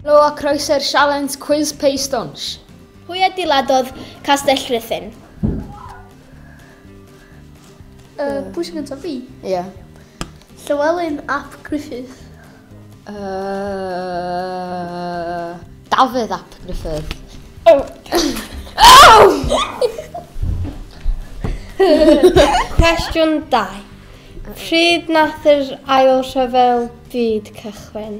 Helo a croeso i'r sialens Cwis Pei Stwnsh! Pwy adeiladodd Castell Rhuthun? Uh, pwy sy'n gyntaf fi? Ie. Yeah. Llywelyn ap Griffith. Uh, Dafydd ap Griffith. Oh. oh! Cwestiwn 2. Pryd nath yr ail rhyfel byd cychwyn?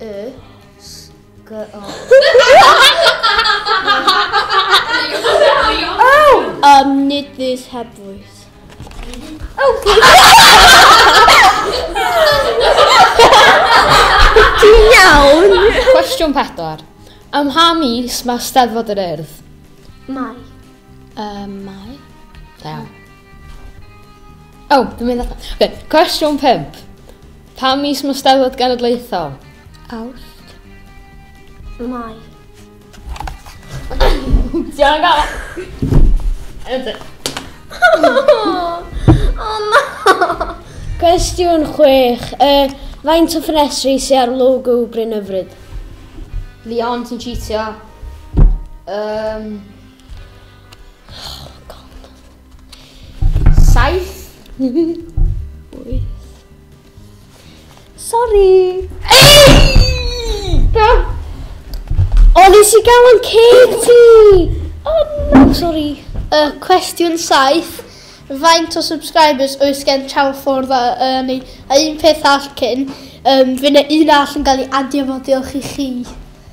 Y Ym nid fus heb fwys. Ti'n iawn? Cwestiwn pedwar. Ym mha mis mae Steddfod yr Urdd? Mai. Um, mai. Da. O, oh, dwi'n mynd allan. Okay. Cwestiwn 5. Pa mis mae Steddfod Genedlaethol? Awst. Mai. Diolch gael. Ydw. O na! Cwestiwn 6. Uh, faint o ffenestri sy'n ar logo Bryn Yfryd? Leon, ti'n cheatio. Um, Saith. Wyth. Sorry. Ei! Da. O, nes i gael yn ceg ti. O, no, sorry. Uh, cwestiwn saith. Faint o subscribers oes gen Channel 4 dda, uh, neu a un peth all cyn, um, fe na un all yn cael ei adio fo diolch i chi.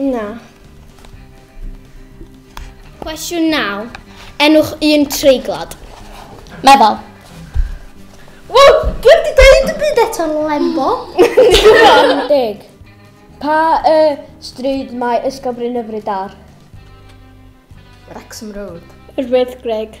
Na. Cwestiwn 9. Enwch un treiglad. Meddwl. Wel, dwi wedi dweud y byd eto lembo. Dwi'n deg. Pa y stryd mae Ysgol Bryn Yfryd ar? Wrexham Road. Rwydd Greg.